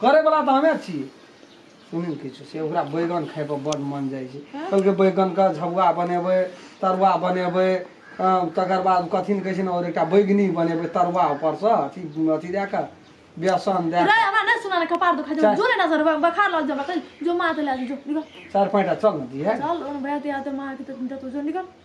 करे वाला तो हमें छी सुनिल किछु से ओकरा बैगन खाय पर बड़ मन जाइ छै कहलकै बैगन के झबुआ बनेबै तरुआ बनेबै अं, तकर बाद कथी ने कहै छै ने और एकटा बैगनी बनेबै तरुआ ऊपर से अथी अथी दए कऽ बेसन दए रे कऽ हमरा नहीं सुना ना कपार दुखा जो चाय। जो रे ना सर बखार लग जा बकल जो मार दे ला जो निकल चारि पाँचटा चल ने दिहे चल उन बहते आते मार के तो तुझे निकल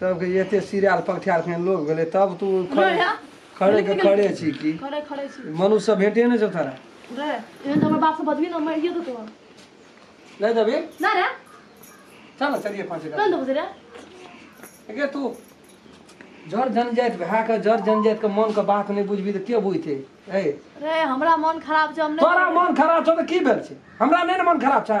तब के एते सिराल पकठार फेन लोग भेले तब तू खड़े रे, खड़े के खड़े छी की खड़े खड़े छी मनुष्य से भेंटे ने छौ तोरा रे एहन हमर बाप से बजबी ना मारिए देतो नहीं देबी ना रे चल ना चलिए पाँच ना देबो से रे के तू जर जनजाति भए के जर जनजाति के मन के बात नहीं बुझबी तऽ के बुझते ए रे हमरा मन खराब छै हम तोरा नहि मन खराब छौ तऽ की भेल छै हमरा नहि ने मन खराब छै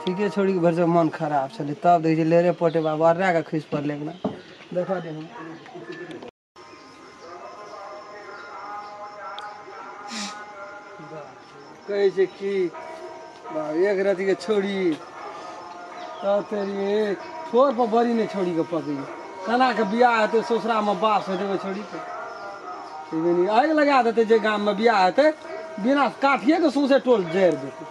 ठीके छोड़ी के भरि मन खराब छलै तब देखै छियै लेरे पोटे बाबा वर्रा के खसि पड़लै एकरा देखऽ दे हम कहै छै कि बाप, एक रति के छोड़ी तब तेरी एक छोर पर बड़ी नहि छोड़ी के पकड़ी केना के बियाह हेतै ससुरा मे बास हेतै ओहि छोड़ी के ई बनी आगि लगा देतै जे गाम मे बियाह हेतै बिना काठिए के सौंसे टोल जरि देतै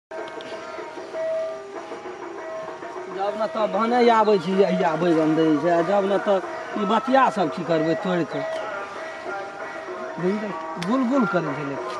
जब ने तऽ भने आबै छी अहिया बैगन दै छै आ जब ने तऽ ई बतिया सब की करबै तोड़ि कऽ बुझलियै? गुल गुल करै छै लेकिन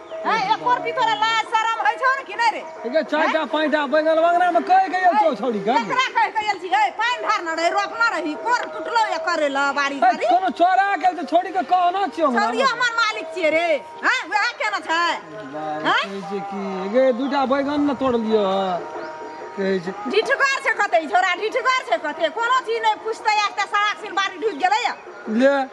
है एकोर भी तोरा लाज शरम होइ छौ ने कि नै रे एके चाटा पाइटा बैगल वगरा में कह के यो छौ छौड़ी का केकरा कह के एल छी है पाइन धार न रहे रोपना रही कोर टुटलो या करे ल बारी बारी कोनो चोरा के तो छौड़ी के कहना छियो हमरा छौड़ी हमर मालिक छिए रे हैं वह केना छै हैं जे की एगे दुटा बैगन न तोड़ लियो कहै छै ढिठगर छै कतै छोरा ढिठगर छै कतै कोनो चीज नै पुछतै एकटा सड़क सिन बारी ढुक गेलै ले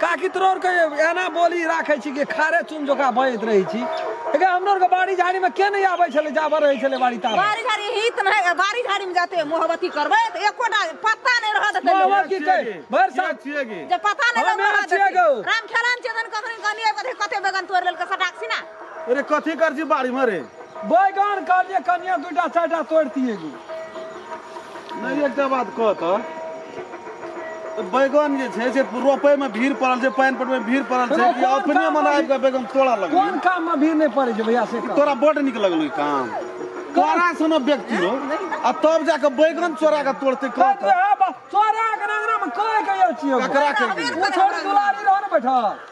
काकी तोरो आरके एना बोली राखै छी कि खारे चून जकाँ बजैत रहै छी एके हमरो आरके बाड़ी झाड़ीमे के नहि आबै छलै जाबऽ रहै छलै बाड़ी ताबऽ बाड़ी झाड़ी हित नहि बाड़ी झाड़ी में जाते मोहब्बती करबै तऽ एकोटा पत्ता नहि रहत एते लोक। मोहब्बत की कहै भरि साल छियै की जे पता नहि हमे रहत छियै एते। गौ। राम खेलाम छै धन कखनी कनिए कते कते बेगन तोड़ि लेलकै सटाक सिना अरे कथी कर छी बाड़ी में रे बैगन कहलिए कनिया दूटा चारिटा तोड़ती एगो नहीं एक बात कह तो बैगन जे छै से रोपे में भीड़ पड़ल छै पानि पटबै भीड़ पड़ल छै कि अपने मन आबि कऽ बैगन तोड़ा लगल कोन काम में भीड़ नहीं पड़े छै भैया से तोरा बड नीक लगल ई काम तोरा सुनो व्यक्ति हो आ तब जाके बैगन चोरा के तोड़ते कह चोरा के नगरा में कहे के छियो ककरा के छोड़ दुलारी रहो ने बैठा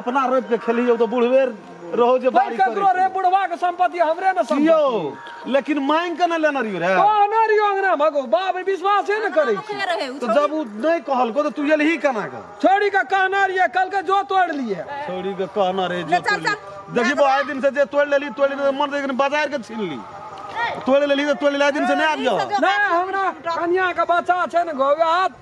अपना रोपि के खेलियौ तऽ बुढ़वे रहो जे बारी करै ककरो रे बुढ़वा के संपत्ति हमरे ने संपत्ति यौ लेकिन मांग के नहि लेने रहियो रे कहने रहियो अंगना भगो बाप रे विश्वासे ने करै छी के रहे उ तऽ जब उ नहि कहलको तऽ तू एलही केना के छोड़ी के कहने रहिए कल के जो तोड़ लिए छोड़ी के कहना रहे जे ले चल, तोड़ि ले। चल। देखी बा आइ दिन से जे तोड़ि लेली तोड़ि लेली मन देखी बाजार के छीन ली तोड़ि लेली तऽ तोड़ि लेली आइ दिन से नहि आबि जाओ नहीं हमरा कन्या के बच्चा छै ने गो हाथ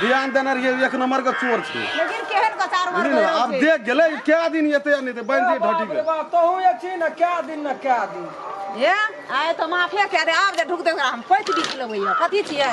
ध्यान देने रहिए एक नंबर के चोर छी लेकिन केहन कचार मार बुझलिए ने आब देख गेलै क्या दिन एते या नहि तऽ बांधि दिए ढटी के बाबा तहू जे छी ने कए दिन ने कए दिन हे आइ तो माफे कए दे आब जे ढुकते ओकरा हम पैत बीछ लेबै यऽ। कथी छियै